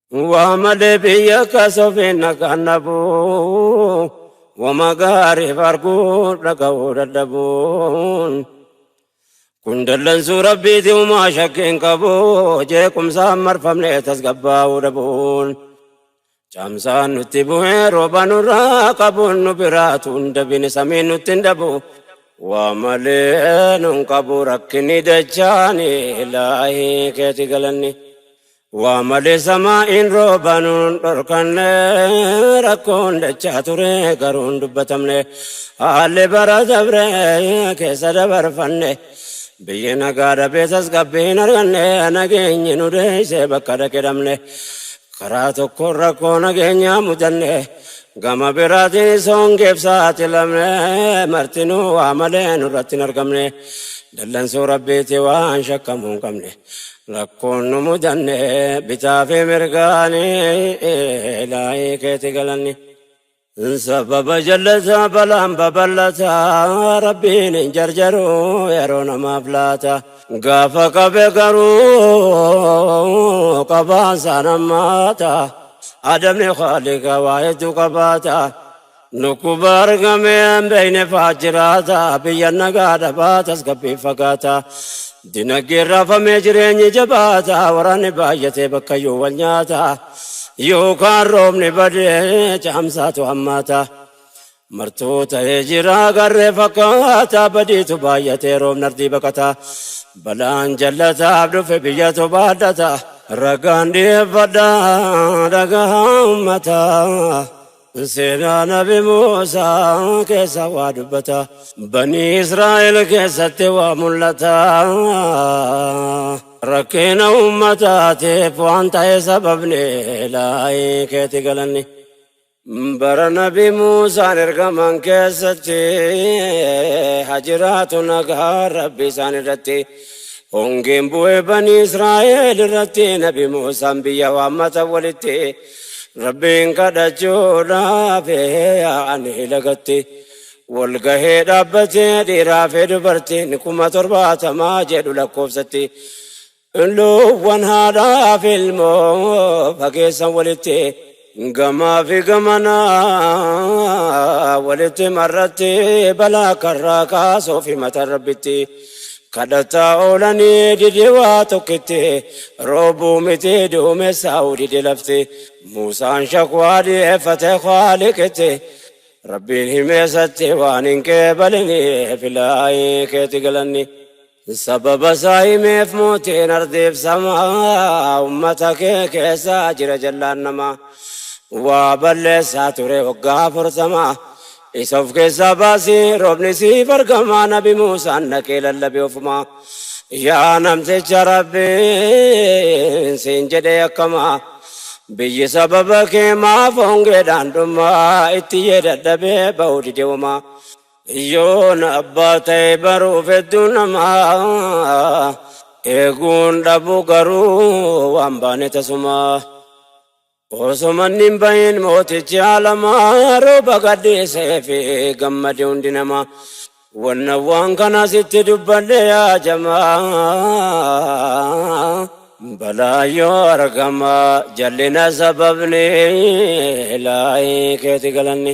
Waamale biyya kasofe nakannabu wama gaariif arguu dhaga'uu dadhabuun kun dallansuu rabbiiti umaa shakkiin qabu jeequmsaan marfamne tasgabbaa'uu dhabuun. Caamsaan nutti bu'ee rooba nurraa qabuun nu biraatu hin dabine samiin nutti hin dhabu. Waa malee nun qabu rakkinni dachaani ilaahii keeti galanni. Waa malee samaa'iin rooba nun dhorkanne rakkoon dachaa ture garuu hin dubbatamne. Haalli bara dabre keessa dabarfanne. Biyyi nagaa dhabee tasgabbii hin arganne nageenyi nu deessee bakka dhaqe dhabne. Karaa tokkoon rakkoo nageenyaa mudanne, gama biraatiinis hongeef saaxilamne, martinuu waa malee nurratti hin argamne. Dallansuu Rabbiitti waan shakkamuu hin qabne. Rakkoon nu mudanne bitaa fi mirgaani, Ilaahii keeti galanni. Sababa jallata balaan babal'ata rabbiin hin jarjaru yeroo namaaf laata. Gaafa qabe garuu qabaan saan hammaata. Adamni khaalika waa hedduu qabaata. Dhukkuba argamee hin beekne fa'aa jiraata. Biyya nagaa dhabaa tasgabbii fagaata. Dinagdeen raafamee jireenyi jabaata, waraanni baay'atee bakkayyuu wal nyaata. Yookaan roobni badee caamsaatu hammaata. Martuu ta'ee jira garree fakkaata, badiitu baay'atee roobni ardii baqata. Balaan jallataaf dhufe biyyatu baadhata. Ragaan dhiyeeffadha dhagahaa ummata, Seenaa nabi Muusaa keessa waa dubbata. Banii Israa'el keessatti waa mul'ata. Rakkina uummataatiif waan ta'e sababni laayii keeti galanni. Bara nabi Muusaan ergaman keessatti hajiraatu nagaa rabbi isaan irratti. Hongeen bu'ee banii Israa'el irratti nabi Muusaan biyya waammata walitti. Rabbiin kadhachuudhaaf yaa'anii lagatti wal gahee dhaabbatee dhiiraa fi dubartiin kuma torbaatamaa jedhu lakkoofsatti luuwwan haadhaa fi ilmoo fageessan walitti gamaa fi gamanaa walitti marratti balaa karraa kaasuu fi mata rabbitti. Kadhataa oolanii dide waa tokkitti, roobuu miti duumessaa'uu dide lafti. Muusaan shakwaa dhiyeeffate Khaaliqitti, Rabbiin himeesatti waan hin qeebaliniif Ilaahii keeti galanni. Sababasaa himeef mootiin ardiif samaa, ummata kee keessa jira jallaan namaa. Waa balleessaa ture waggaa afurtama, Isa of keessaa baasi roobni siif argama nabi Muusaan dhaqee lallabe ofuma. Yaa namticha rabbiin siin jedhee akkama. Biyyi sababa kee maaf hongeedhaan dhuma itti yee dadhabee ba'uu dide wama. Yoon abbaa ta'e baruuf hedduu nama eeguun dhabu garuu waan baane tasuma. Osoma inni hin bahin mootichi alamaa rooba gadhiisee fi gammade hundi namaa. Wanna waan kana sitti dubbadhe yaa jamaa balaa yoo argama jallina sababni laayii keeti galanni.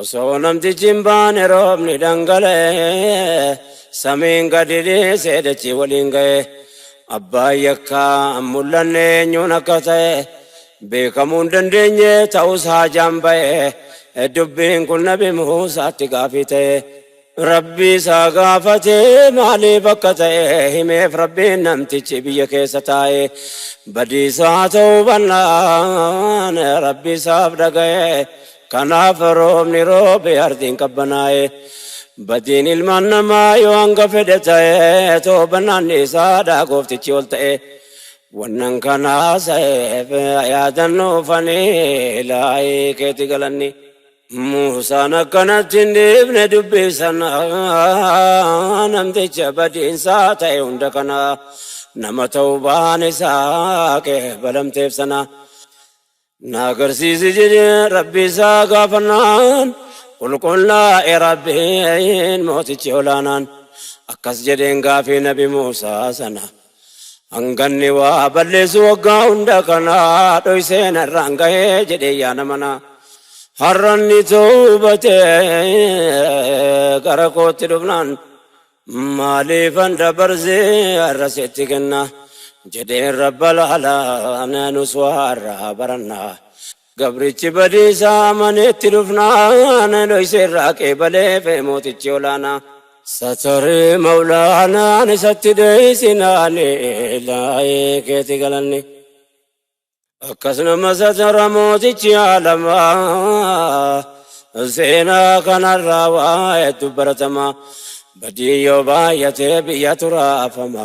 Osoo namtichi hin baane roobni dhangala'e samiin gadi dhiisee dachii waliin ga'e abbaan yakkaa hin mul'anne eenyuun akka ta'e beekamuu hin dandeenye ta'us haajaan ba'e dubbiin kun nabi Muusaatti gaafii ta'e. Rabbii isaa gaafate maaliif akka ta'e himeef Rabbiin namtichi biyya keessa taa'e badiisaa ta'uu bannaan Rabbi isaaf dhaga'e kanaaf roobni roobe ardiin qabbanaa'e badiin ilmaan namaa yoo hanga fedhe ta'e toobannaan isaadha gooftichi ol ta'e wannan kanaa sa'eef yaadannuufanii laayii keeti galanni. Muusaan akkanatti hin dhiifne dubbii sana namticha badiinsaa ta'e hunda kana nama ta'uu baan isaa qeebalamteef sana na agarsiisi jedhee rabbii isaa gaafannaan qulqullaa'e rabbiin mootichi olaanaan akkas jedheen gaafii nabi Muusaa sana. Hanganni waa balleessu waggaa hunda kana dhoysee narraan gahee jedhee yaa namana. Har'anni toobatee gara kootti dhufnaan maaliifan dabarsee har'a sitti kenna jedheen rabba laala nus waa har'aa baranna Gabrichi badiisaa amanee itti dhufnaan, dhoyse irraa qeebaleef mootichi olaanaa. Satari mawlaanaan isatti dheeysinaan, ilaahii keeti galanni. Akkas nama satara mootichi aalamaa, seenaa kanarraa waa hedduu baratamaa. Badiin yoo baay'ate biyyatu raafama,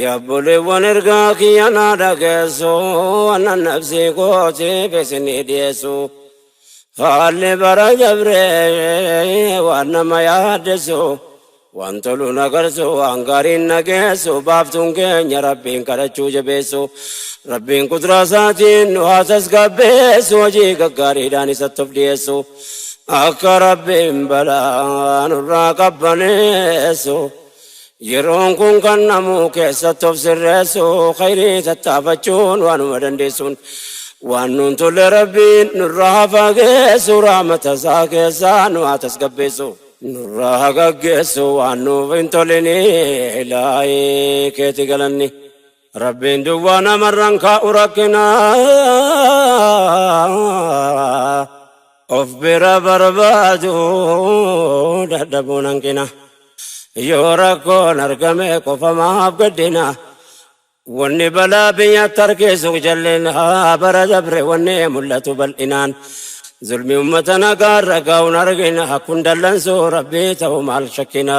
Yaa obboleewwan ergaa kiyya naa dhageessu annan nafsii kootiif isinii dhiyeessu. Haalli bara dabree waan nama yaaddessu waan tolu na garsu waan gaariin na geessu baaftuun keenya rabbiin kadhachuu jabeessu. Rabbiin qudraa isaatiin nu haa tasgabbeessu hojii gaggaariidhaan isatti of dhiyeessu. Akka rabbiin balaa nurraa qabbaneessu. Yeroon kun kan namu keessatti of sirreessu khayrii tattaafachuun waanuma dandeessuun waan nuun tolle rabbiin nurraa haa fageessu rahmata isaa keessaa nu haa tasgabbeessu. Nurraa haa gaggeessu waan nuuf hin tolinii ilaahii keeti galanni. Rabbiin duwwaa namarraan kaa'u rakkina of bira barbaadu dadhabuun hanqina yoo rakkoon argame qofa maaf gaddina wanni balaa biyya tarkeessu jallina bara dabre wanni mul'atu bal'inaan zulmi ummata nagaa irra gaa'uun argina kun dallansuu rabbii ta'u maal shakkina.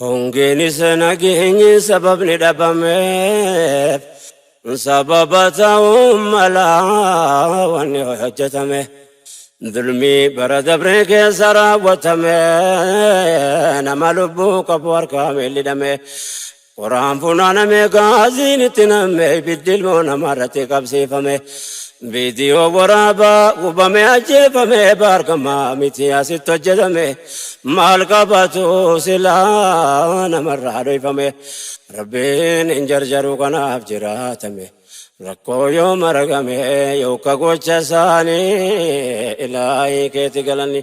Hongeenis nageenyi sababni dhabameef sababa ta'uu mala wanni hojjetame. Dulmii bara dabree keessa raawwatame nama lubbuu qabu harkaa miidhidhame. Qoraan funaaname gaaziin itti namme ibiddi ilmoo namaa irratti qabsiifame. Viidiyoo waraabaa gubame ajjeefame baargama miti asitti hojjetame maal qabatu silaa namarraa dhoyfame rabbiin hin jarjaru kanaaf jiraatame rakkoo yoo maragame yooka gocha isaanii ilaahii keeti galanni.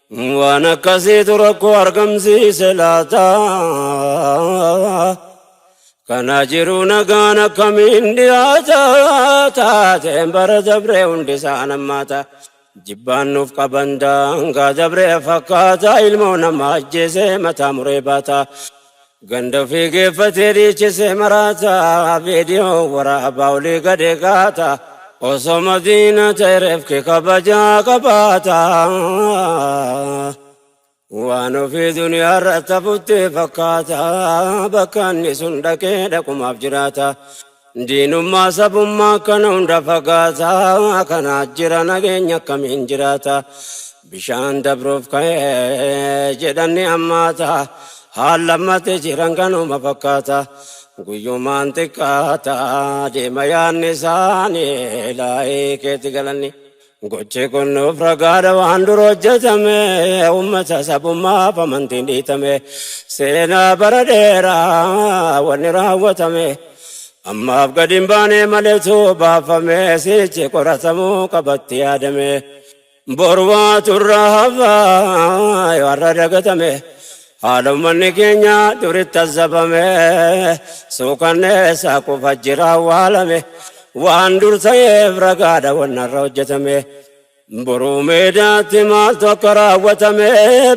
Waan akkasiitu rakkoo argamsiise laata? Kana jiru nagaan akkamiin dhiyaata? Taateen bara dabree hundi isaan hammaata. Jibbaan nuuf qaban daangaa dabree fakkaata. Ilmoo namaa ajjeesee mataa muree baata. Ganda ofii geeffatee dhiichisee maraata viidiyoo waraabaa olii gadi gaata osoo madiina ta'e reefki kabajaa qabaata waan ofii duniyaa irratti hafutti fakkaata bakka inni sun dhaqee dhaqumaaf jiraata Diinummaa sabummaa kana hunda fagaataa kana jira nageenya akkamiin jiraata bishaan dabruuf ka'ee jedhanni ammaata haal lammate jiran kanuma fakkaata guyyumaan xiqqaata deema yaadni isaanii laa'ee keetti galanni. Gochi kun nuuf ragaadha waan dura hojjetame uummata sabummaaf amantiin dhiitame seenaa bara dheeraa wanni raawwatame ammaaf gadi hin baane maletu baafame sichi qoratamuu qabatti yaadame borwaa turra hafaa yoo har'a dagatame Haala ummanni keenya duritti azzabame, suukanneessaa kufa jira awwaalame, waan dur ta'eef ragaadha wanni har'a hojjetame. Boruu meedaatti maaltu akka raawwatame,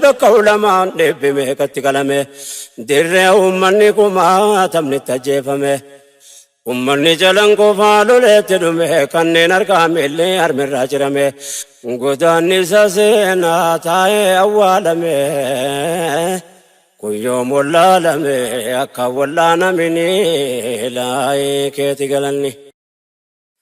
bakka ulamaan dhibbi meeqatti qalame, dirree ummanni kumaatamnitti ajjeefame. Ummanni Calanqoofaa loleetti dhume, kanneen harkaa miilli harmirraa cirame, godaannisa seenaa taa'ee awwaalame, kun yoom wallaalame akka hin wallaanaminii, ilaahii keeti galanni.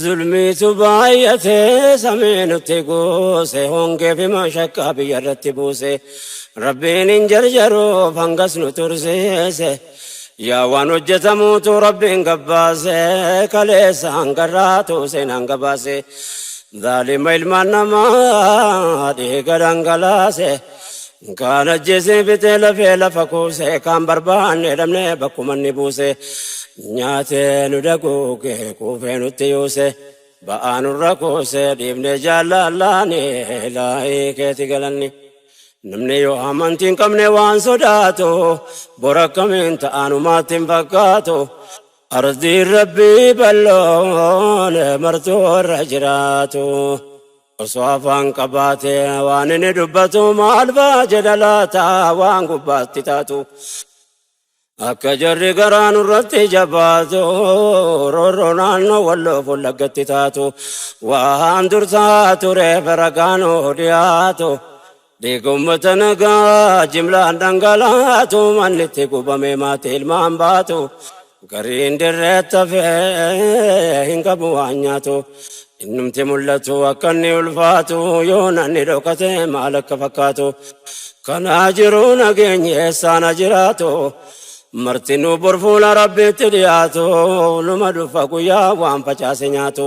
Zulmiitu baay'ate samii nutti guuse hongee fi mashaqqaa biyya irratti buuse Rabbiin hin jarjaruuf hangas nu tursiise yaa waan hojjetamuutu Rabbiin gabbaase kaleessa hangarraatu seenaan gabaase zaalima ilmaan namaa dhiiga dhangalaase Kaan ajjeesee fixee lafee lafa kuusee kaan barbaannee dhabnee bakkuma inni buuse nyaatee nu daguugee quufee nutti yuuse ba'aa nurra kuusee dhiibnee jaallallaanii laayii keeti galanni. Namni yoo amantii hin qabne waan sodaatu bor akkamiin ta'anumaatti hin fakkaatu ardiin rabbii balloon martuu warra jiraatu. Osoo afaan qabaate waan inni dubbatu maal ba'a jedha laata waan gubbaatti taatu. Akka jarri garaa nurratti jabaatu roorroo naannoo walloo fullaggatti taatu. Waan dursaa tureef ragaan hoo dhiyaatu Dhiiga ummata nagaa jimlaan dhangalaatu manni itti gubame maatii ilmaan baatu gariin dirreetti hafee hin qabu waan nyaatu innumti mul'atu akka inni ulfaatu yoo nanni dhokate maal akka fakkaatu kanaa jiru nageenyi eessaana jiraatu martinuu borfuula rabbiitti dhiyaatu numa dhufa guyyaa waan facaase nyaatu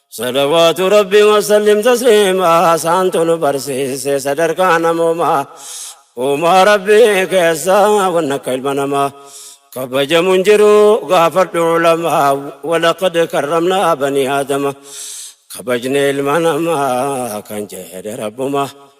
Salawaatu Rabbi wasallim tasliimaa saantu nu barsiise sadarkaa namoomaa uumaa Rabbi keessaa wanna akka ilma namaa kabajamu hin jiru gaafadhu ulamaa walaqad karramnaa banii aadama kabajne ilma namaa kan jedhe rabbumaa.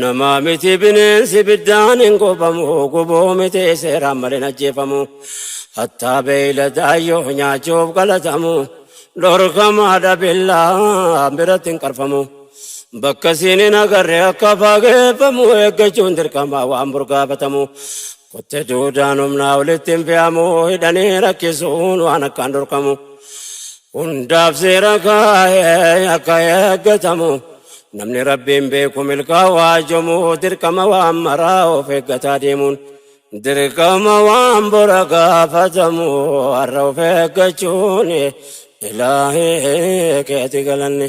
Namaa miti bineensi ibiddaan hin gubamu gubuu miti seeraan malee hin ajjeefamu. Hattaa beeyladaa yoo nyaachuuf galatamu dhorkamaadha billaa biratti hin qarfamu. Bakka siin hin agarre akka fageeffamu eeggachuun dirqamaa waan burgaafatamu. Qottee duudaan humnaa olitti hin fe'amu hidhanii rakkisuun waan akkaan dhorkamu. Hundaaf seera kaa'ee akka eeggatamu namni rabbiin beeku milkaa'aa jomu dirqama waan maraa of eeggataa deemuun dirqama waan bora gaafatamu har'a of eeggachuun ilaahee keeti galanne.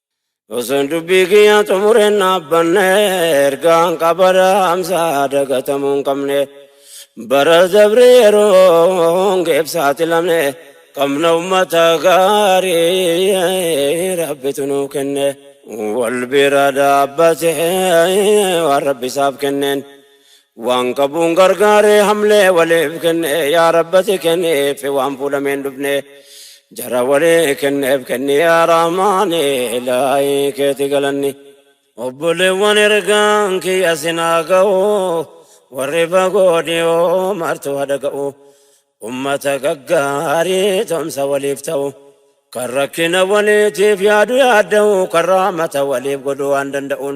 Osoon dubbii kiyyaa xumureen dhaabbanne ergaan qabara amsaa dagatamuu hin qabne bara dabre yeroon geef saaxilamne qabna ummata gaarii rabbitu nuu kenne wal bira dhaabbate waan rabbi isaaf kenneen Waan qabuun gargaaree hamlee waliif kenne yaa rabbati kenniif waan fuudhameen dhufne jara walii kenneef kenni yaa rahmaani ilaahi keeti galanni. Obboleewwan ergaan kiyya sinaa ga'u warri fagoo dhiyoo martuu hadhaga'u ummata gaggaarii tomsa waliif ta'u kan rakkina waliitiif yaadu yaadda'u kan rahmata waliif godhu waan danda'uun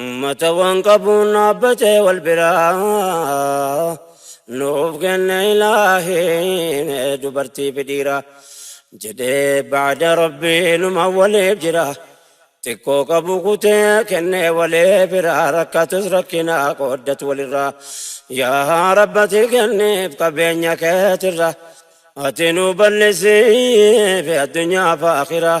Ummata waan qabuun dhaabbatee wal biraa nuuf kenne ilaahiin dubartii fi dhiira jedhee baada rabbii numa waliif jira xiqqoo qabu kutee kenne walee biraa rakkatus rakkinaa qooddatu walirraa yaa rabbati kenniif qabeenya keetirra ati nu bal'isiif addunyaa fi akhiraa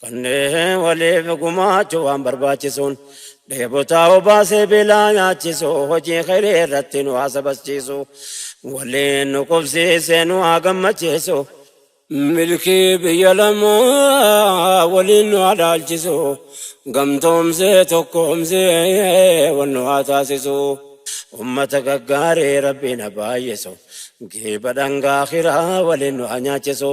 Kanneen waliif gumaachuu waan barbaachisuun dheebotaa obaasee beelaa nyaachisu hojii khayrii irratti nu haa sabachiisu waliin nu qubsiisee nu haa gammachiisu. Milkii biyya lamaa waliin nu haa dhaalchisu gamtoomsee tokkoomsee wal nu haa taasisu. Ummata gaggaarii Rabbiin haa baay'isu giiba dhangaa akhiraa waliin nu haa nyaachisu.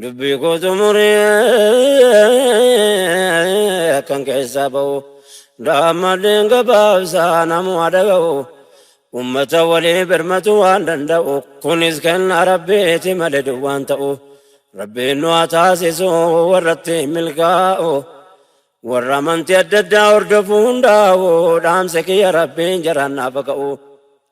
Dubbii koo xumuree akkan keessaa ba'u daammadheen gabaabsaa namuma dhaga'u ummata walii birmatu waan danda'u kunis kenna rabbiiti malee duwwaan ta'u rabbiin nu haa taasisu warratti milkaa'u warra amantii adda addaa hordofu hundaa'u dhaamsa kiyya rabbiin jaraan naaf haa ka'u.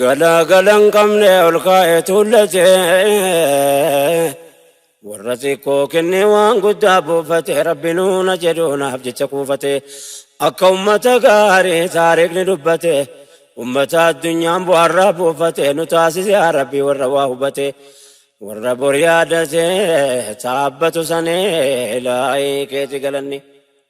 Galaagala hin qabne ol kaa'e tuullate warra xiqqoo kennee waan guddaa buufate rabbi nuuna jedhu naaf jecha kuufate akka ummata gaarii taariikni dubbate ummata addunyaan bu'aarraa buufate nu taasise yaa rabbi warra waa hubate warra bor yaadate taabbatu sanee laayii keeti galanni.